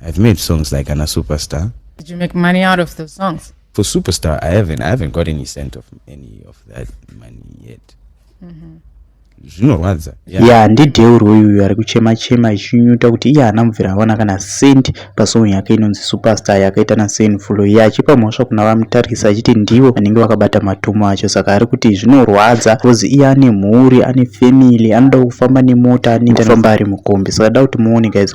I've made songs like Ana Superstar. Did you make money out of those songs? For Superstar, I haven't, I haven't got any cent of any of that money yet. Mm-hmm. zvinorwadza ya yeah, ndidheurwo uyu ari kuchema chema achinyuta kuti iye haana mubvira awana kana cent pasong yake inonzi superstar yakaita nasenfulo iye achipa mhosva kuna vamutarisi achiti ndivo vanenge vakabata matumo acho saka ari kuti zvinorwadza bcause iye ane mhuri ane family anoda kufamba nemota anoita kufamba ari mukombi saka da kuti muone guys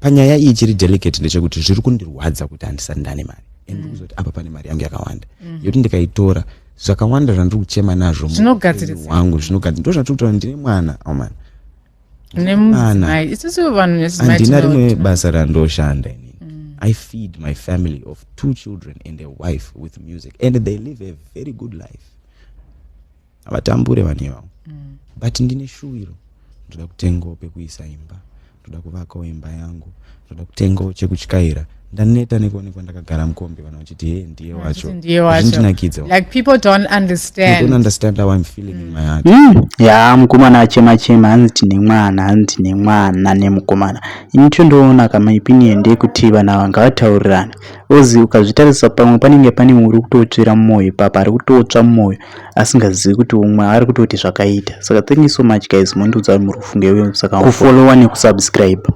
panyaya iyi chiri delicate ndechekuti zviri kundirwadza kuti handisati ndane mari and mm. kuzoti apa pane mari yangu yakawanda mm. yoti ndikaitora zvakawanda zvandiri kuchema nazvo wangu zvinogadziria ndo zvatiri kutaura ndine mwana omana handina rimwe basa randoshanda ini I feed my family of two children and a wife with music, and they live a very good life. havatambure vanhu ivavo mm. but ndine shuwiro ndoda kutengawo pekuisa imba ndoda kuvakawo imba yangu ndoda kutengawo chekutyaira ndaneta nekuonekwa ndakagara mukombi vanhu vachiti he ndiye wacho ndinakidza ya mukomana achema chema hanzi tine mwana hanzi tine mwana nemukomana ini tondoona kamaipiniye ndeyekuti vanhu ava ngavataurirane ozi ukazvitarisa pamwe panenge pane uri kutotsvira mumwoyo ipapa ari kutotsva mumwoyo asingazivi kuti umwe ari kutoti zvakaita saka thank you so much guys mondiudza murufunge uyo saka kufollowa nekusubscribe